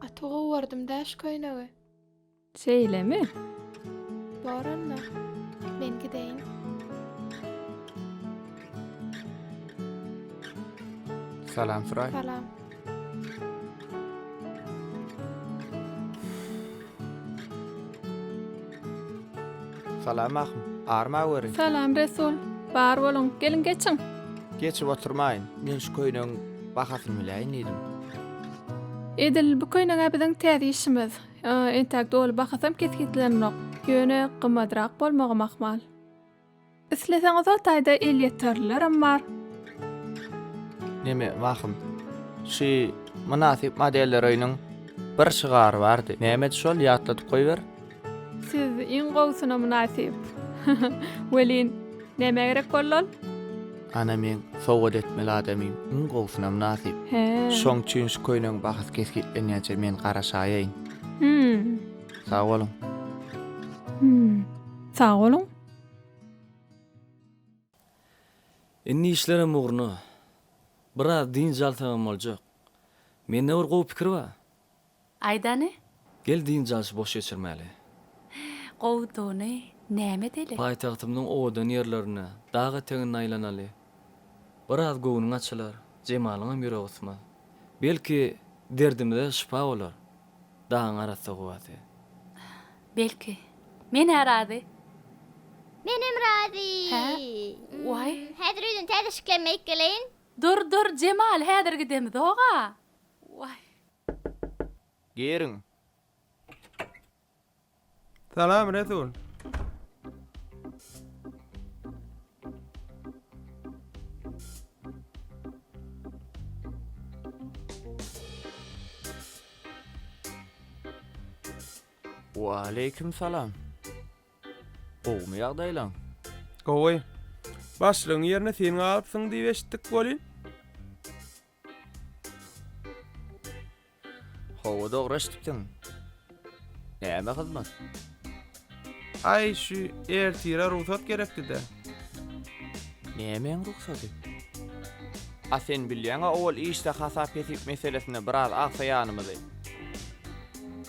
Gaty gowardym dä şu köýnegi. Şeýlemi? Bor onda. Men gideýin. Salam Suray. Salam. Salam ahun. Arma weri. Salam Resul. Bar boluň. Geliň geçiň. Geçip oturmaýyn. Men şu köýnegiň bahasyny biläýin diýdim. Edil bu köýneg-ä biziň täze işimiz. Entäk doly bahasam kesgitlenenok. Ýöne gymmadrak bolmagam ahmal. Isleseňiz o taýda elýeterlilerem bar. Neme wahym. Şu mynasyp modelleröýüniň bir şygary bardy. Nämedi şol ýatladyp goýber. Siz iň gowusyna mynasyp. Welin, nämä gerek boldy ol? Ana meň sowgat etmeli adamym iň gowusyna mynasyp. He. Şoň üçin şu köýnegiň bahasy kesgitlenýänçä men garaşaýaýyn. Hum. Sag boluň. Hum. Sag boluň. Indi işlerem ugruna. Biraz dynç alsagam boljak. Mende bir gowy pikir bar. Aýdany. Gel dynç alşy boş geçirmäli. Gowudyny näme edeli? Paýtagtymyzyň owadan ýerlerine, dag etegine aýlanaly. Biraz göwnüň açylar, Jemalyňam ýüregi gysmaz. Belki, derdimize şypa bolar dagyň arassa howasy. Belki, men-ä razy. Menem razy. Hä? Waý. Häzir öýden täze şiklenme aýyp geleýin. Dur, dur, Jemal, häzir gidemizog-a. Waý. Giriň. Salam, Resul. Waleýkim salam. Gowumy ýagdaýlaň? Gowy. Başlygyň ýerine sen galypsyň diýip eşitdik welin. Hawa dogry eşitipsiň. Näme hyzmat? Aý şu ertire rugsat gerekdi-de. Nämäň rugsady? A sen bilýäň-a owal işde hasap-hesip meselesinde biraz agsaýanymyzy.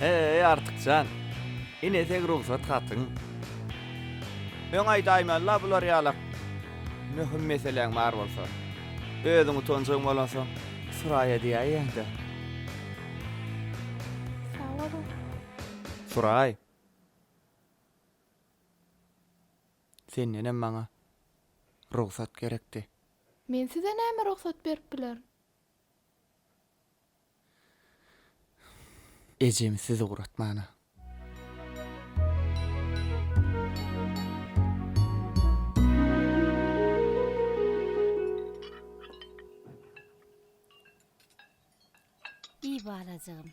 Heý, Artyk jan! Ine seň rugsat hatyň. Öň aýdaýman-la bular ýalak. Möhüm meseläň bar bolsa. Özüň utanjaň bolansoň, Suraýa diýäýeň-dä. Sag boluň. Suraý. Sendenem maňa rugsat gerekdi. Men size näme rugsat berip bilerin? Ejem siz ugratmana. Iý balajygym.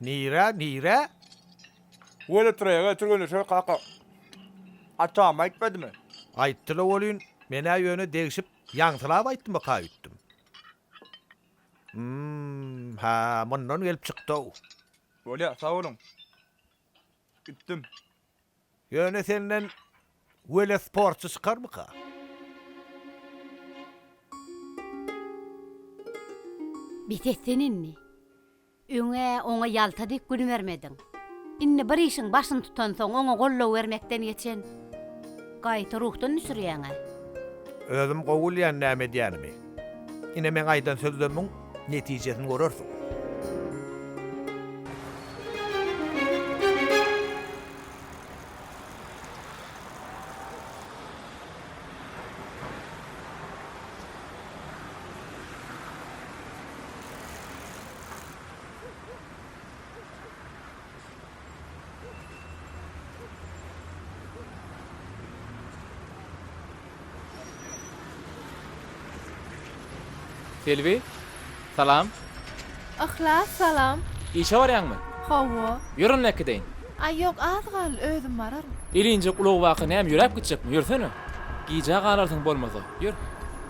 Nirä, nirä? Weletraýaga türgenleşer kaka. Atam aýtmadymy? Aýtdy-la welin, men-ä ýöne degşip, ýaňsylap aýtdymyka öýtdüm. Hum, hä, mundan gelip çykdy-ow. Bolýa, sag boluň. Gitdim. Ýöne senden welosportçy çykarmyka? Bes et sen indi. Öň-ä oňa ýalta dek gün bermediň. Indi bir işiň başyny tutansoň oňa goldaw bermekden geçen. Gaýta ruhdan düşürýäň-ä. Özüm gowy bilýän näme edýänimi. Ine meň aýdan sözlerimiň netijesini görersiň. Selbi, salam. Yhlas, salam. Işe barýaňmy? Hawa. Ýör onda äkideýin. Aý, ýok, az galdy, özüm bararyn. Elinjek ulag baka näme ýöräp gitjekmi? Ýörsene. Gijä galarsyň bolmasa. Ýör.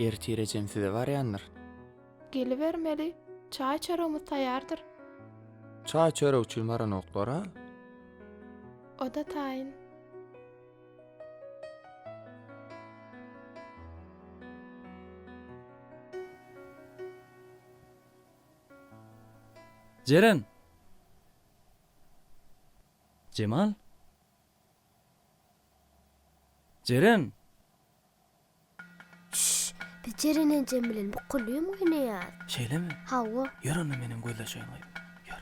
Ertirejem size barýandyr. Gelibermeli, çaý-çöregimiz taýýardyr. Çaý-çörek üçin baranoklar-a? O-da taýyn. Jeren! Jemal! Jeren! Şşş! Biz Jeren enjem bilen bu kulýum oýnaýas. Şeýlemi? Hawa. Ýör onda menem gözleşeýin goý. Ýör.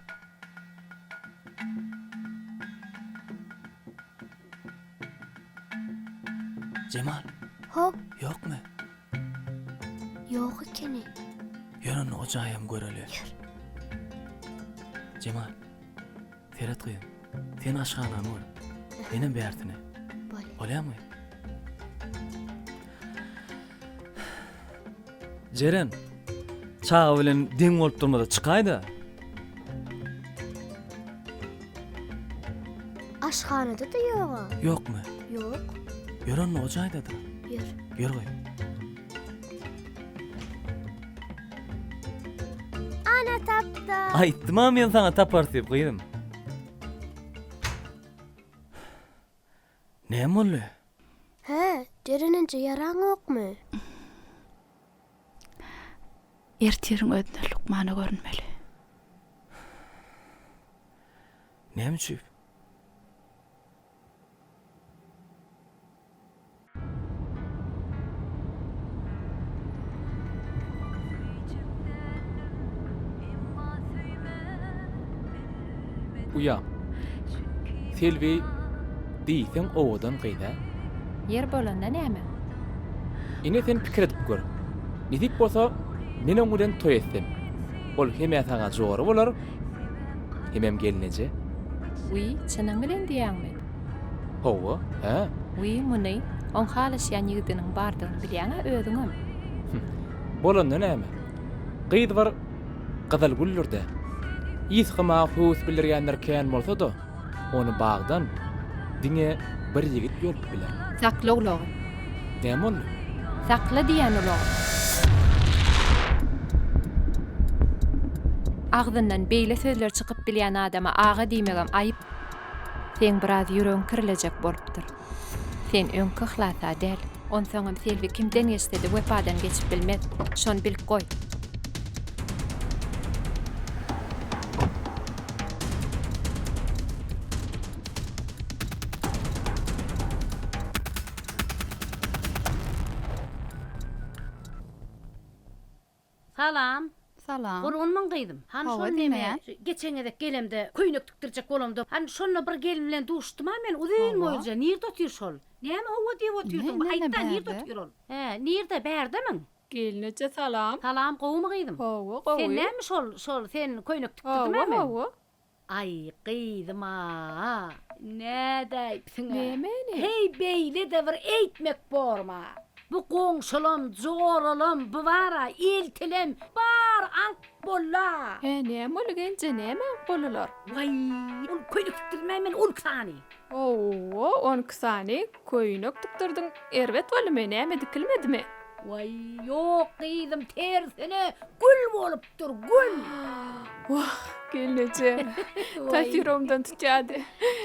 Jemal! Hop! Ýokmy? Ýok ekeni. Ýör onda o jaýam göreli. Ýör. Jemal. Seret gyzym. Sen aşhanany gör. Menem bärtini. Bolýar. Bolýamy? Jeren. Çaga bilen deň bolup durmada çykaýda. Aşhanada da ýoga. Ýokmy? Ýok. Ýör onda o jaýda dur. Ýör. Ýör goý. Ana tapda. Aýtdym a men saňa tapar diýip gyzym. Näme boldy? Hä, jerenenje ýaraňokmy? Ertiriň özüne lukmana görünmeli. Näme üçin? Uýa. Selbi diýseň owadan gyz-a. Ýer bolanda näme? Ine sen pikir edip gör. Nesip bolsa men oň bilen toý etsem. Ol hem-ä saňa jora bolar, hemem gelneje. Wiý, çynyň bilen diýýäňmi? Hawa, hä. Wiý, muny oň halaşýan ýigdiniň bardygyny bilýäň-ä özüňem. Hüh. Bolanda näme? Gyz bir. Gyzylgüldür-de. Yzky mawy höwes bildirýänler kän bolsa-da, ony bagdan diňe bir ýigit ýolup biler. Sakla ulagy. Näme boldy? Sakla diýýän ulagy. Agzyndan beýle sözler çykyp bilýän adama aga diýmegem aýyp. Seň biraz ýüregiň kirlejek bolupdyr. Sen öňki yhlasa däl. Onsoňam Selbi kimden geçse-de wepadan geçip bilmez. Şony bilip goý. Salam. Salam. Gurgunmyň gyzym. Han Hawa, şol neme, diňleýän. geçen gezek gelemde, köýnek tikdirjek bolamda, han şonda bir gelin bilen duşdum-a men, uzyn Hawa. boýlyja, nirde otyr şol? Näme howwa diýip otyrsyň, bir Nirde, aýt-da, nirde bärde? otyr ol? Hä, nirde, bärdemi? Gelin eje salam. Salam, gowumy gyzym? Gowy, gowy. Sen näme şol, şol, sen köýnek tikdirdim-ä Hawa, men. hawa. Aý, gyzym-a! Nädip aýypsyň-a? Nämeni? Heý, beýle-de bir eýtmek borma? Bu goňşulam, joralam, bibara, eltilem, bar aňk bolla! Hä, näme boldy, gelje, näme aňk boldular? Waý, ol köýnek tikdirmäý men on iki sany. Ho-o, on iki sany köýnek tikdirdiň, erbet boldumy, näme dikilmedimi? Waý, ýok, gyzym, tersine, gül bolup Dur gül. Wah, gelneje. Tasiromdan tutýady.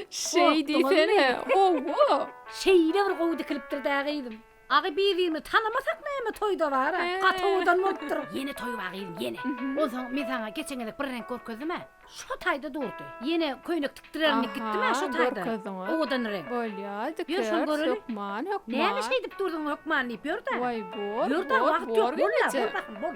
Şeý diýsene. Owo. Şeýle bir gowy dikilipdir-dä gyzym. Agy bizimi tanamasak näme toýda bar-a. Gaty owadan bolupdyr. Ýene toý bar gyzym, ýene. Onsoň men saňa geçen gezek bir reňk görkezdim-ä. Şo taýda durdy. Ýene köýnek tikdirerimdiki gitdimä şo taýda. Aha, görkezdiňiz. Owadan reňk. Bolýar, dikeris. Ýör, şony göreli. Hökman, hökman. Näme şeýdip durduň, hökman diýip ýör-dä. Waý, bor, bor, bor, geneje. Ýör-dä, wagt ýok, bol-la, bol bakalym, bol.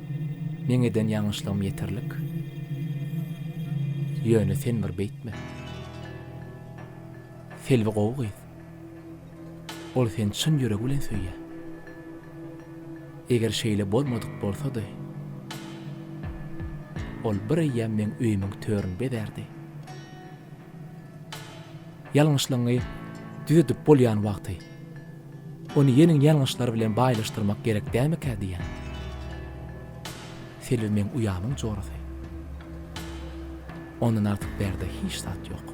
Meň eden ýalňyşlygym ýeterlik. Ýöne sen bir beýtme. Selbi gowy gyz. Ol seni çyn ýüregi bilen söýýär. Eger şeýle bolmadyk bolsady, ol bir eýýäm meň öýümiň törüni bezärdi. Ýalňyşlygyňy düzedip bolýan wagty, ony ýeniň ýalňyşlary bilen baýlaşdyrmak gerek dälmikä diýýän. Selbi meň uýamyň jorasy. Ondan artyk bärde hiç zat ýok.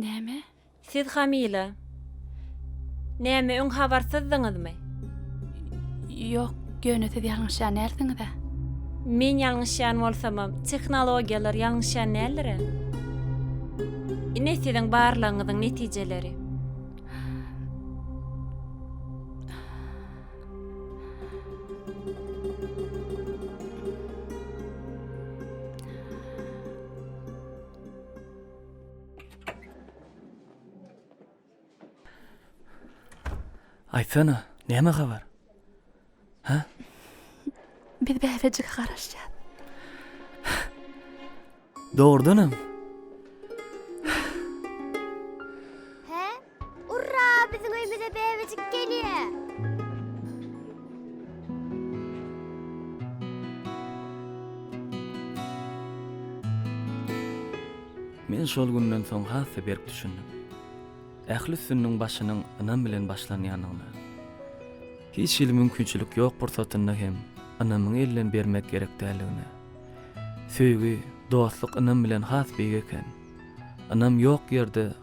Näme? Siz hamyla. Näme öň habarsyzdyňyzmy? Ýok, ýöne siz ýalňyşýan dälsiňiz-ä. Men ýalňyşýan bolsamam, tehnologiýalar ýalňyşýan däldir-ä. Ine siziň barlagyňyzyň netijeleri. Aýtsana, näme habar? Hä? Biz bäbejige garaşýas. Dogrudanam? Hä? Urra biziň öýmüze bebejik gelýä. Men şol günden soň has-da berk düşündim. Ähli üstünligiň başynyň ynam bilen başlanýandygyna. Hiç hili mümkinçilik ýok pursatynda hem ynamyňy elden bermek gerek däldigine. Söýgi, dostluk ynam bilen has beýik eken. Ynam ýok ýerde